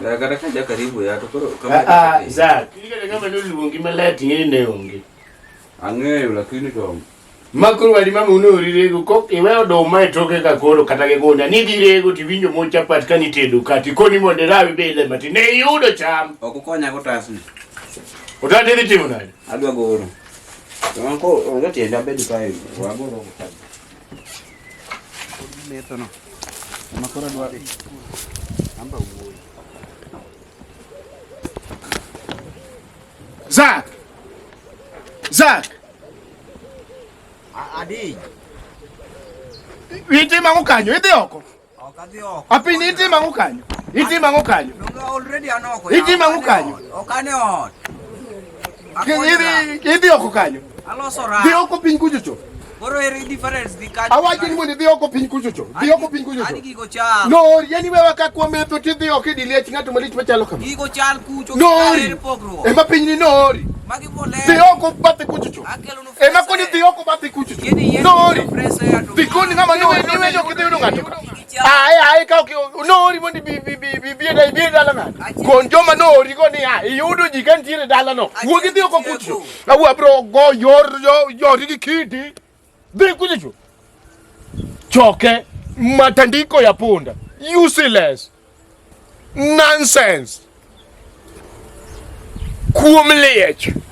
Kata ka jakaribu ya to koro kama Ah, ah, Zak. Kile kama ndio luongi malet ng'e ne onge. Ang'eyo lakini to Makuru wali mama uno urirego kok iwe oduma e toke ka koro kata ge gona ni dirego ti winjo mo chapat ka ni tedo kati koni mo de rawi bele mati ne yudo cham. ok ukonya go tasni. Utate ni timo nade? Adwa goro. Wanko onge tienda bedo kae. Wagoro. methono makora dwari amba wuoyi Zak Zak Adi Witi mangu kanyo idhi oko Apiny itima ang'o kanyo? Itima ang'o kanyo? Itima ang'o kanyo? Idhi oko kanyo? Dhi oko piny kucho cho. Koro eri difference dhi kanyo. Awacho ni mondo idhi oko piny kucho cho. Dhi oko piny kucho cho. Adi gigo chal. No, yani wewe ka kwa metho ti dhi oko idili ach ng'ato malich machalo kama. Gigo chal kucho. No, eri pogruok. Ema piny ni no. Magi bolero. Dhi oko bathe kucho cho. Akelo E ma koni dhi oko ba dhi kuchu. Nori. Dhi koni ngama no ni we jo kidhi unga to. Ai ai ka ki nori mondi bi bi bi bi bi dai bi dala na. Kon joma nori koni a iyudo ji kan tire dala no. Wo kidhi oko kuchu. Na wo abro go yor yo yor ki kidi. Dhi kuchu. Choke matandiko ya punda. Useless. Nonsense. Kuom liech.